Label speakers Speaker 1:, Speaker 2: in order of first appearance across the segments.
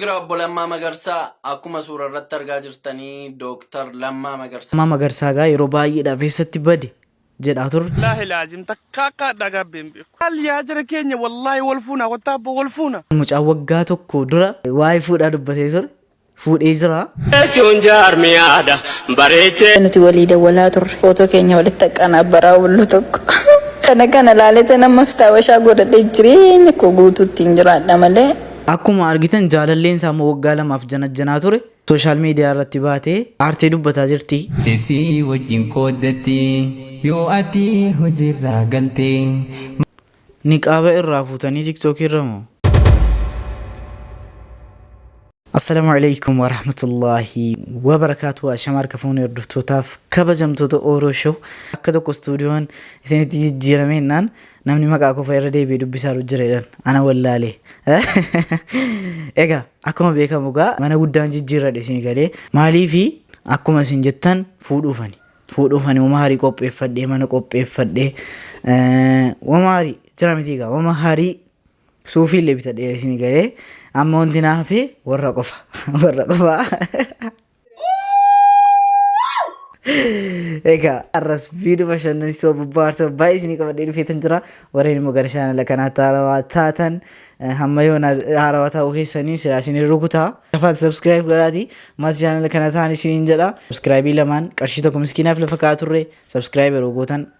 Speaker 1: Gra Obbo Lammaa Magarsaa akkuma suurarratti argaa jirtanii Dooktar Lammaa Magarsaa. Lammaa Magarsaa egaa yeroo
Speaker 2: baay'eedhaaf eessatti bade jedhaa turre. Billaahi laazim takka
Speaker 3: akka adhaa gaabbee hin beeku. Maal yaa jara keenya wallaahi wal fuuna kottaa abbo wal fuuna. Mucaan waggaa tokko
Speaker 2: dura waa'ee fuudhaa dubbatee ture. Fuudhee jira. jechuun
Speaker 4: jaarmiyaadha bareechee. nuti walii dawwalaa
Speaker 5: turre footoo keenya walitti haqqaan abbaraa bullu tokko kana kana laaletan ammas taawashaa godhadhe jireenya koo guutuu ittiin jiraadha malee Akkuma argitan
Speaker 2: jaalalleen isaa immoo waggaa lamaaf janajjanaa ture social media irratti baatee aartee dubbataa jirti. Sisii wajjin
Speaker 6: qooddatti yoo ati hojiirraa galte.
Speaker 2: Niqaaba irraa fuutanii tiktok irra moo? Assalamu alaikum warahmatullahi wabarakatuh Ashama harka fuunee hordoftootaaf kabajamtoota Oro Show akka tokko stuudiyoon isinitti jijjiirame innaan Namni maqaa koo fa'a irra deebi'ee dubbisaaru jira jedhan ana wallaale. Egaa akkuma beekamu egaa mana guddaan jijjiirradhe isin galee maaliifi akkuma isin jettan fuudhuufani. Fuudhuufani wama harii qopheeffadhee mana qopheeffadhee wama harii jira miti egaa wama harii suufii illee bitadhee isin galee amma wanti na hafe warra qofa warra qofa. Egaa arras viidiyoo bashannansiisoo bobbaarsoo baay'ee isinii qabadhee dhufeetan jira. Warreen immoo gara chaanala kanaatti haarawaa taatan eh, hamma yoona haarawaa ta'uu keessanii silaa isin rukuta. Gafaatti subscribe godhaati maatii chaanala kana ta'an isiniin jedha. Subscribe lamaan qarshii tokko miskiinaaf lafa kaa'aa turre subscribe yeroo gootan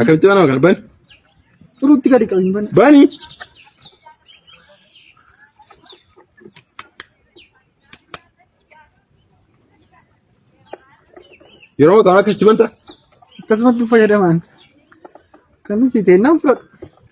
Speaker 7: Akkamitti banama
Speaker 8: kana bani? Turuutti
Speaker 7: gadi qabi hin bane. Bani!
Speaker 8: Yeroo ta'an akkasitti banta? Akkasumatti
Speaker 7: fayyadamaan. Kan nuti teennaan fudhadhu.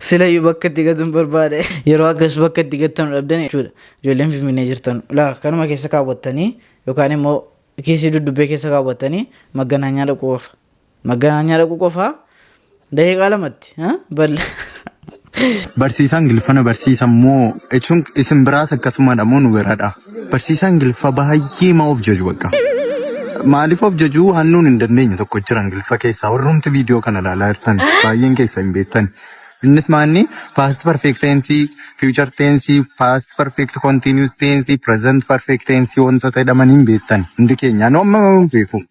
Speaker 2: Silayyuu bakka itti gatuun barbaade yeroo akkas bakka itti gattanu dhabdan jechuudha. Ijoolleen Finfinnee jirtan laa kanuma keessa kaawwattanii yookaan immoo kiisii duddubbee keessa kaawwattanii magganaanyaa dhaquu qofa. Magganaanyaa dhaquu qofa daqiiqaa lamatti balla.
Speaker 9: Barsiisaan Ingiliffana barsiisa moo jechuun isin biraas akkasumadha moo nu biradha? Barsiisaa Ingiliffa baay'ee ma of jaju bakka. Maaliif of jaju waan nuun hin dandeenye tokko jira Ingiliffa keessaa warrumti viidiyoo kana ilaalaa jirtan baay'een keessa hin beektan. Innis maanni past perfect tense, future tense, past perfect continuous tense, present perfect tense wantoota jedhaman hin beektan hundi keenya. Anu amma hin beeku.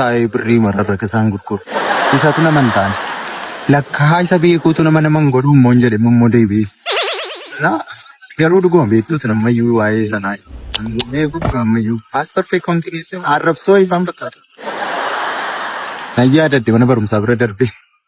Speaker 9: taa'ee birrii mararra isaan gurguru. Isatu nama hin taane. Lakkaa isa beekuutu nama nama hin godhu immoo hin jedhe immoo deebi'ee. Na garuu dhuguma beektu isin ammayyuu waa'ee sanaa beeku ammayyuu paaspoortii kontireessi arrabsoo ifaan fakkaata. Nan yaadadde mana barumsaa bira darbee.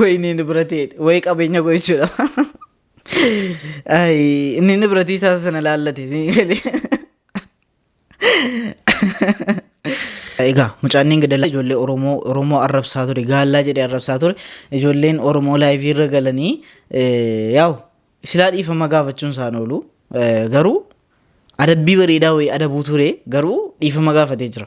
Speaker 2: ወይ inni inni bira ta'e way qabeenya koo jechuudha. Ay, inni inni biratii isaa sana laallate siin galee. Egaa mucaan inni gadala ijoollee Oromoo Oromoo arrabsaa ture gaallaa jedhee arrabsaa ture ijoolleen Oromoo laayivii irra galanii eh, yaa'u silaa dhiifama gaafachuun isaan oolu eh, garuu adabbii bareedaa wayii adabuu ture garuu dhiifama gaafatee jira.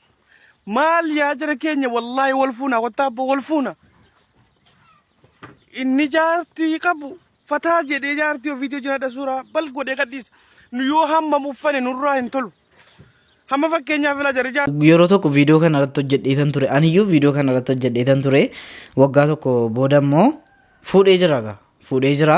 Speaker 3: Maal yaa jira keenya wallaahi wal fuuna kottaa abboo wal fuuna. Inni jaartii qabu fataa jedhee jaartii ofiitii hojii haadha suuraa bal godhee gadhiisa. Nu yoo hammam uffane nurraa hin tolu. Hamma fakkeenyaaf ilaa jarri jaartii. yeroo tokko viidiyoo kana
Speaker 2: irratti hojjedheetan ture aniyyuu viidiyoo kana irratti hojjedheetan ture waggaa tokko booda immoo fuudhee jira gaa fuudhee jira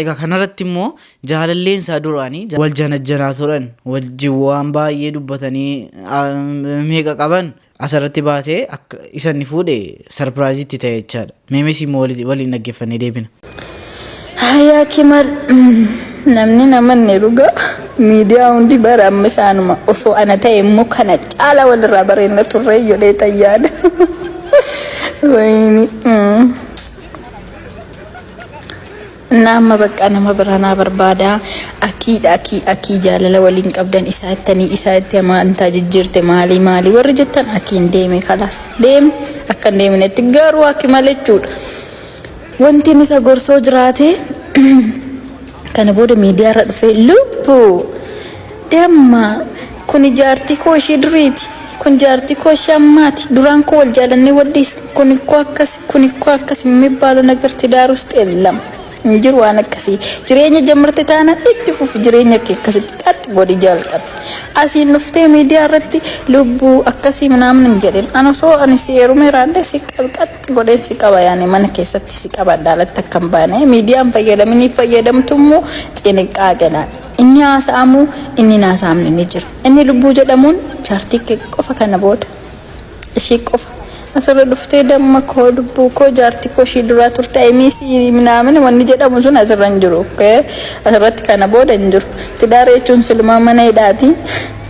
Speaker 2: Egaa kanarratti immoo jaalalleen isaa duraanii wal janajjanaa turan wajjin waan baay'ee dubbatanii meeqa qaban asirratti baatee akka isa inni fuudhe sarpiraayizii itti ta'e jechaadha. Meemes immoo waliin dhaggeeffannee deebina. Hayaa
Speaker 5: kimal namni namanne dhuga miidiyaa hundi bara amma isaanuma osoo ana ta'e immoo kana caala walirraa bareenna turre jedhee tayyaadha. Wayini. Innaa amma baqqaa nama biraa naa barbaada. Akiidha akii akii jaalala waliin qabdan isaa ittanii isaa itti amaantaa jijjiirte maalii maalii warri jettan akiin deeme kalaas deeme akka hin deeminetti garuu akki malechuudha. Wantiin isa gorsoo jiraate Kana booda miidiyaarra dhufee lubbu! Damma! Kuni jaartii koo ishee duriiti. Kun jaartii koo ishee ammaati. Duraan koo wal jaalannee wal dhiisne. Kun ikkoo akkasi, kun ikkoo akkasi mimibbaalu nagar tidaar ust ellam. Hin jiru waan akkasii. Jireenya jamarte taanaan itti fufi jireenya kee akkasitti qaxx godhi jaalqabi. Asiin dhuftee miidiyaa irratti lubbuu akkasii minaamin hin jedhin. An osoo ani si heerumee raadde si qaxxi godheen si qaba yaani mana keessatti si qabadha alatti akka hin baane. Miidiyaan fayyadaminiif fayyadamtu immoo xiniqqaaqedhaan. Inni haasa'amu inni hin haasa'amne ni jira. Inni lubbuu jedhamuun chaartii kee qofa kana booda ishii qofa asirra dhuftee damma koo lubbuu koo jaartii koo ishii duraa turte I miss you minaamin wanni jedhamu sun asirra hin jiru okay? asirratti kana booda hin jiru tidaara jechuun silumaa mana hidhaati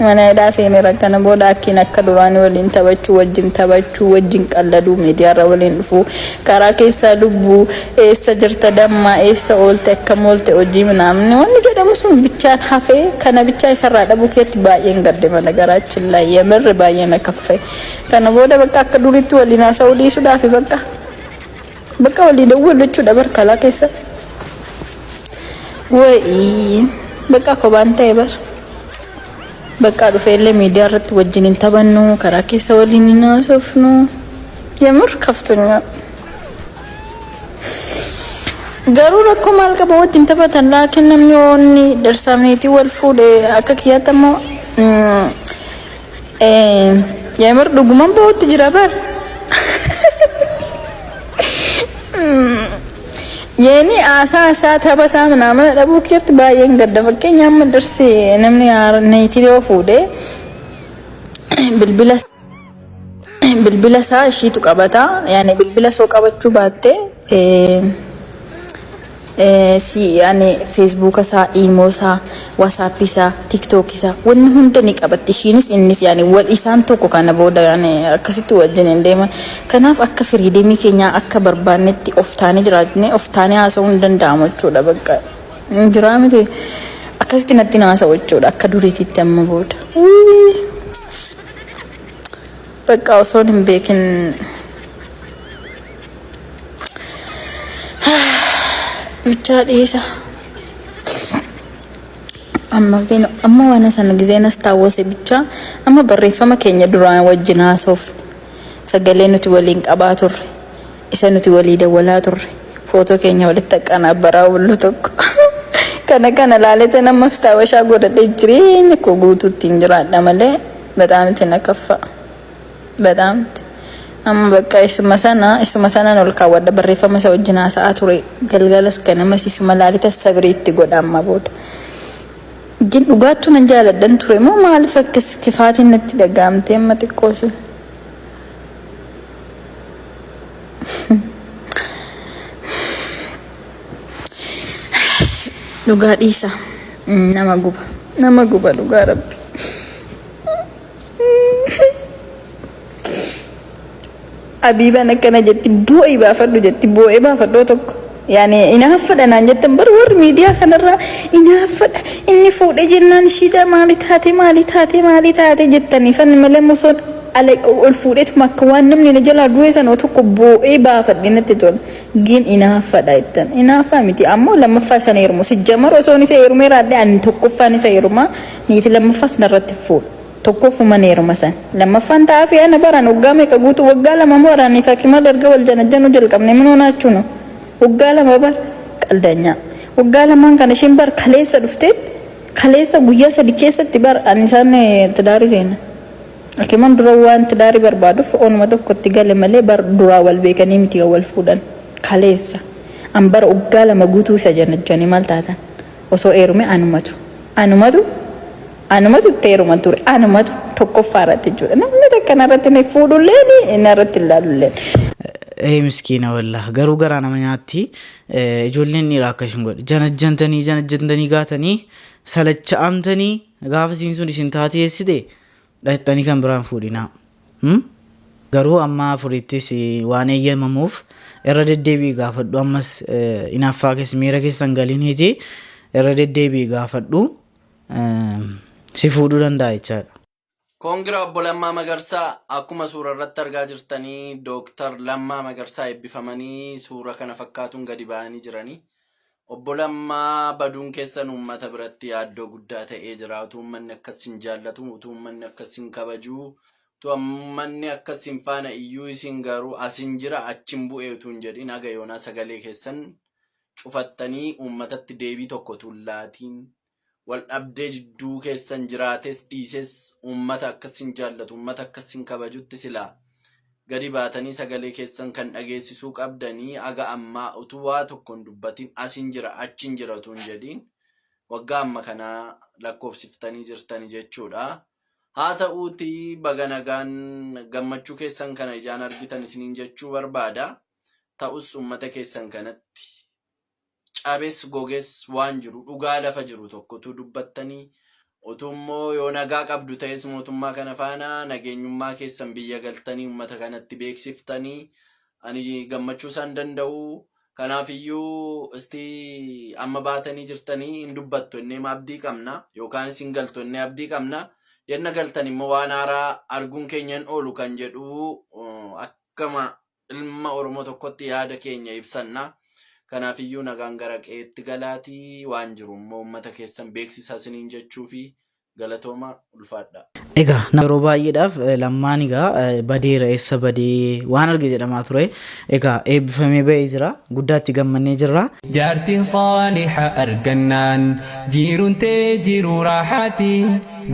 Speaker 5: mana hidhaa seeneera kana booda akkiin akka duraanii waliin taphachuu wajjin taphachuu wajjin qalladuu miidiyaarra waliin dhufuu Karaa keessaa lubbu eessa jirta damma eessa oolte akkam oolte hojii minaamni wanni jedhamu sun bichaan hafee kana bichaa isarraa dhabuu keetti baay'een gadde mana garaachin laa yemerre baay'ee na kaffe kana booda bakka akka duriitti waliin haasa'uu dhiisuudhaafi bakka bakka walii dawwalu jechuudha bar kalaa keessa wayii bakka kobaan ta'e bar. Baqqaa dhufee illee miidiyaa irratti wajjin hin taphannu karaa keessa waliin hin haasofnu yemir kaftunyaa garuu rakkoo maal qaba wajjin taphatan laakiin namni oonni darsaamneetii wal fuudhe akka kiyyaatti ammoo yemir dhuguman ba'utti jira bar Yeenii aasaa isaa taba isaa minaamana dhabuu kiyyatti baay'een gadda fakkeenya amma darsi namni neetii yoo fuudhe bilbila bilbila isaa ishiitu qabata yaani bilbila soo qabachuu baatte si yaani feesbuuka isaa iimoo isaa WhatsApp isaa, TikTok isaa wanni hunda ni qabatti ishiinis innis yaani wal isaan tokko kana booda yaani akkasitti wajjin hin deeman. Kanaaf akka firiidemii keenyaa akka barbaannetti of taanee jiraatnee of taanee haasa'uu hin danda'amu jechuudha bakka hin jiraa miti akkasitti natti hin haasa'u jechuudha akka duriititti amma booda. Wii! Bakka osoon hin beekin Bichaa dhiisa. Amma beenu amma waan sana gizeen as taawwase bichaa amma barreeffama keenya duraan wajjin haasofne sagalee nuti waliin qabaa turre isa nuti walii dawwalaa turre footoo keenya walitti akkanaa baraa bullu tokko kana kana laalete nama as taawwashaa godhadhee jireenya koo guutuutti hin jiraadha malee bataamitti na kaffaa. Badaamti. Amma bakka isuma sana isuma sanan ol kaawwadha barreeffama isa wajjin haasa'aa ture galgalas ganamas isuma laalita sabrii itti godha amma booda. Gin dhugaattuu nan jaaladhan ture moo maaliif akkas kifaatiin natti dhaga'amtee amma xiqqoo ishee. Dhugaa dhiisa nama guba nama guba dhugaa rabbi. Habiibaan akkana jetti boo'i baafadhu jetti boo'ee baafadhoo tokko. Yaani inaaffadha naan jettan bar warri miidiyaa kanarraa inaaffadha inni fuudhee jennaan ishiidha maali taate maali taate maali taate jettanii fan malee mosoon ala ol fuudheetuma akka waan namni na jalaa du'ee sanoo tokko boo'ee baafadhe natti tola. Gin inaaffadha jettan inaaffaa miti ammoo lammaffaa sana heerumu sijjamar osoon isa heerumee raadhee ani tokkoffaan isa heerumaa Niiti lammaffas narratti hin fuudhu. Tokkoffuman heeruma san. Lammaffaan ta'aafii ana baraan waggaa meeqa guutuu waggaa lama moo aniif hakimal erga wal janajjanuu jalqabne minoo naachuno. Waggaa lama bar qaldanyaa. Waggaa lamaan kana ishiin bar kaleessa dhufteet kaleessa guyyaa sadi keessatti bar ani isaan tidaarii seena. Hakiman dura waan tidaarii barbaaduf onuma tokko itti gale malee bar duraa wal beekanii miti kan wal fuudhan. Kaleessa. An bar waggaa lama guutuu isa janajjane maal taatan. Osoo eerume anumatu anumatu anumatu itti eeruman ture anumatu tokkoffaa irratti jechuudha namni takka narratti ni fuudhulleen narratti hin laalulleen. Ee
Speaker 2: miskiina wallah garuu garaa nama nyaatti Eh, ijoolleen dhiiraa akka isin godhe janajjantanii janajjantanii gaatanii salacha'amtanii gaafa isiin sun isin taatee eessite Dhaqxanii kan biraa hin fuudhinaa. Him? Garuu amma afuriittis waan eeyyamamuuf irra deddeebi'i gaafadhu ammas inaaffaa keessa miira keessa hin galiniiti irra deddeebi'i gaafadhu si fuudhuu danda'a jechaadha. Congra
Speaker 1: Obbo Lammaa Magarsaa Akkuma suura irratti argaa jirtanii Dooktar Lammaa Magarsaa eebbifamanii suura kana fakkaatuun gadi ba'anii jiranii. Obbo Lammaa, Baduun keessan uummata biratti yaaddoo guddaa ta'ee jira. Utuu uummanni akka isin jaallatu, utuu uummanni akka isin kabaju, utuu uummanni akka isin faana iyyuu isin garuu asin jira achin bu'e utuu hin jedhin haga yoonaa sagalee keessan cufattanii uummatatti deebii tokko utuu hin laatiin Wal dhabdee jidduu keessan jiraates dhiises uummata akka sin jaallatu, uummata akka sin kabajutti silaa gadi baatanii sagalee keessan kan dhageessisuu qabdanii haga ammaa utuu waa tokko hin dubbatin asin jira achin jira utuu hin jedhiin waggaa amma kanaa lakkoofsiftanii jirtani jechuudha. Haa ta'uuti baga nagaan gammachuu keessan kana ijaan argitan isiniin jechuu barbaada. Ta'us uummata keessan kanatti cabes goges waan jiru dhugaa lafa jiru tokko utuu dubbattanii utuu immoo yoo nagaa qabdu ta'es mootummaa kana faana nageenyummaa keessan biyya galtanii uummata kanatti beeksiftanii ani gammachuu isaan danda'u kanaaf iyyuu isti amma baatanii jirtanii hin dubbattu innee ma abdii qabna yookaanis hin galtu innee abdii qabna yenna galtan immoo waan haaraa arguun keenya hin oolu kan jedhu uh, akkama Ilma Oromoo tokkotti yaada keenya ibsanna. Kanaafiyyuu nagaan gara qe'eetti galaatii waan jiru immoo uummata keessan beeksisaa isiniin jechuufi. Galatooma ulfaadhaa. Egaa nama yeroo
Speaker 2: baay'eedhaaf lammaan egaa badeera eessa badee waan arge jedhamaa ture. Egaa eebbifamee ba'ee jira. Guddaa itti gammannee jirra. Jaartiin
Speaker 6: saaliha argannaan jiirun tee jiiruu raahaati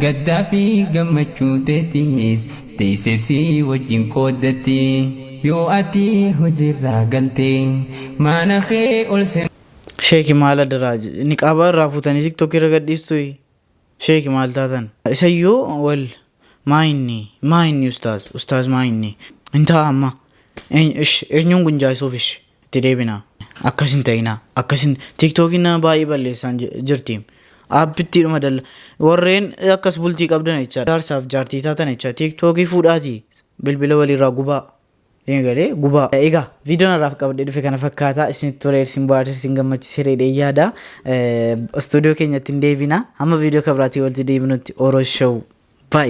Speaker 6: gaddaa fi gammachuu teetiis Teessee si wajjin qooddatti. Yoo ati hojiirraa galte. Mana kee ol seenaa. Sheeki maal
Speaker 2: adaraa niqaaba irraa fuutanii tiktok irra gadhiistui sheeki maal taatan isayyuu wal maa inni maa inni ustaaz ustaaz maa inni hin ta'a amma eenyuun gunjaaysuuf ishi itti deebinaa. Akkas hin ta'inaa akkas hin tiktokiin nama baay'ee balleessaan ji- jirti aappittiidhuma dalla warreen akkas bultii qabdan jecha jaarsaaf jaartii taatan jecha tiktokii fuudhaatii bilbila waliirraa gubaa Ee galee gubaa egaa viidiyoon har'aaf qabadhee dhufe kana fakkaataa isinitti tolee isin bohaarse isin gammachiise reedhee yaada istuudiyoo keenyatti hin deebina hamma viidiyoo kabiraatii walitti deebinutti oro show